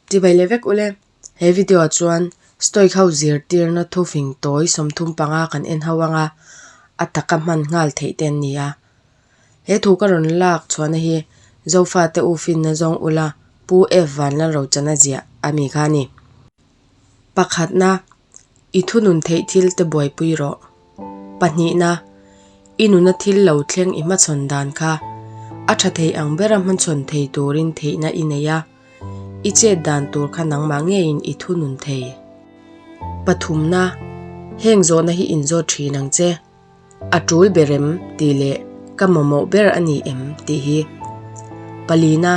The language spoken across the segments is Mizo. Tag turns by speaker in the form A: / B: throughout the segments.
A: Tibai leh vek ule, he video ah chuan stoic ho zirtirna thu fing tawi sawmthum panga kan en ho anga a taka hman nghal theih te an ni a, he thu ka rawn lak chhuahna hi Zofa te ufinna zawng ula Pu F Vanlalrochan a ziah a mi kha a ni. Pakhatna I thunun theih thil te buaipui rawh. Pahnihna, I nuna thil lo thleng i hmachhawn dan kha a tha thei ang bera hmachhawn thei turin theihna i nei a, i chet dan tur kha nangmah ngeiin i thunun thei. Pathumna, Heng zawhna hi in zawt thin ang che. A tul ber em tih leh ka mamawh ber a ni em tih hi palina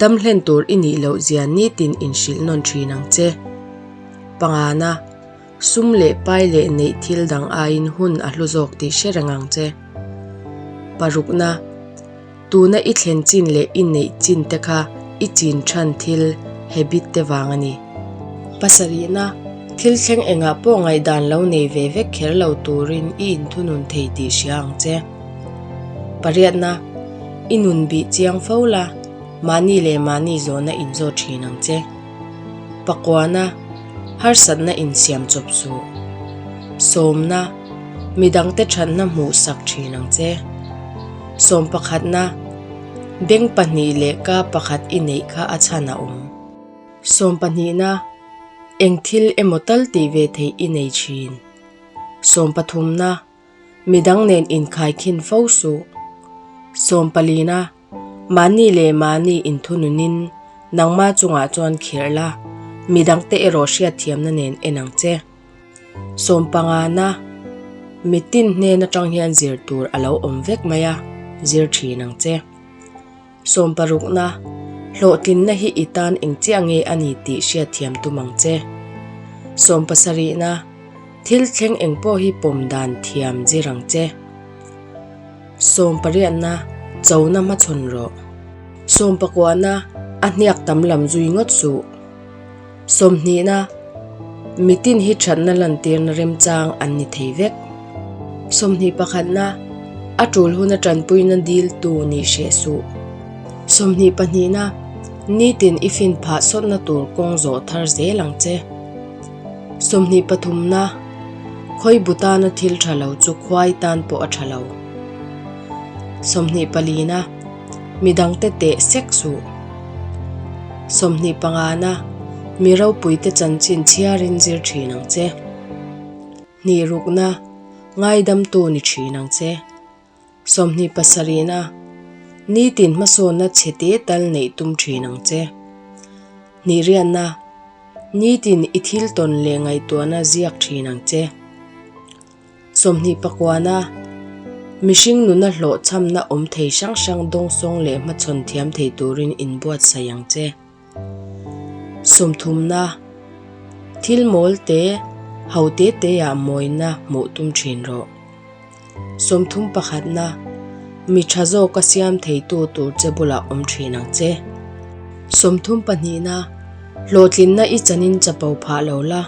A: damhlen tur i nih loh zia nitin in hrilh nawn thin ang che. Pangana sum leh pai leh neih thil dang aiin hun a hlu zawk tih hre reng ang che. Parukna. Tuna i thlen chin leh i neih chin te kha i chin than thil habit te vang a ni. Pasarihna, Thil thleng engah pawh ngaihdan lo nei ve vek kher lo turin i inthunun thei tih hria ang che. Pariatna, I nun bih chiang fo la, mahni leh mahni zawhna in zawh thin ang che. Pakuana, Harsatna in siam chawp suh. Sawmna, Midangte thatna hmuh sak thin ang che. Sawm pakhatna, beng pahnih leh ka pakhat i neih kha a chhan a awm. Sawm pahnihna, eng thil emaw tal tih ve theih i nei thin. Sawm pathumna, midang nen inkhai khin fo suh. Sawm palina, mahni leh mahni inthununin nangma chungah chuan khirh la, midangte erawh hriatthiamna nen en ang che. Sawmpangana mitin hnen atang hian zir tur a lo awm vek mai a, zir thin ang che. Sawm parukna, hlawhtlinna hi i tan engchiah nge a ni tih hriat thiam tum ang che. Sawm pasarihna, thil thleng eng pawh hi pawm dan thiam zir ang che. Sawm pariatna, chona hmachhawn rawh. Sawm pakuahna, a hniak tam lam zui ngawt suh. Sawmhnihna, Mitin hi thatna lantirna remchang an ni thei vek. Sawmhnih pakhatna, A tul hun atanpuina dil tu nih hreh suh. Sawmhnih pahnihna, Nitin i fin phah sawtna tur kawng zawh thar zel ang che. Sawmhnih pathumna, Khawibu tana thil tha lo chu khuai tan pawh a tha lo. Sawmhnih palina. mi dangte teh sek suh. Sawmhnih pangana mi ropuite chanchin chhiarin zir thin ang che. Hnih rukna ngaidamtu ni thin ang che. Sawmhnih pasarihna nitin hmasawnna chhe te tal neih tum thin ang che. Hnih riatna nitin i thil tawn leh ngaihtuahna ziak thin ang che. Sawmhnih pakuana mihring nuna hlawhchhamna awm thei hrang hrang dawngsawng leh hmachhawn thiam thei turin inbuatsaih ang che. Sawmthumna, thil mawlte ho te teah mawina hmuh tum thin rawh. Sawmthum pakhatna, mi tha zawka siam theitu tur che bulah awm thin ang che. Sawmthum pahnihna, hlawhtlinna i chanin chapo phah lo la.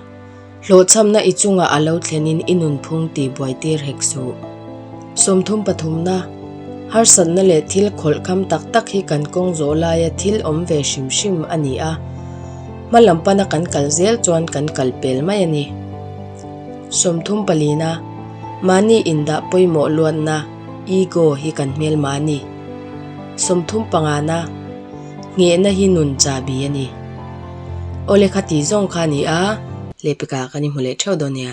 A: Hlawhchhamna i chungah a lo thlenin i nunphung tih buaitir hek suh. Sawmthum pathumna, harsatna leh thil khawlhkam tak tak hi kan kawng zawh laia thil awm ve hrim hrim a ni a. Hmalam pana kan kal zel chuan kan kal pel mai a ni. Sawmthum palina, mahni indah pawimawh luatna, ego, hi kan hmelma a ni. Sawmthum pangana, Nghehna hi nun chahbi a ni. Aw le kha tih zawng kha a ni a. Lepika kan inhmu leh theuh dawn nia.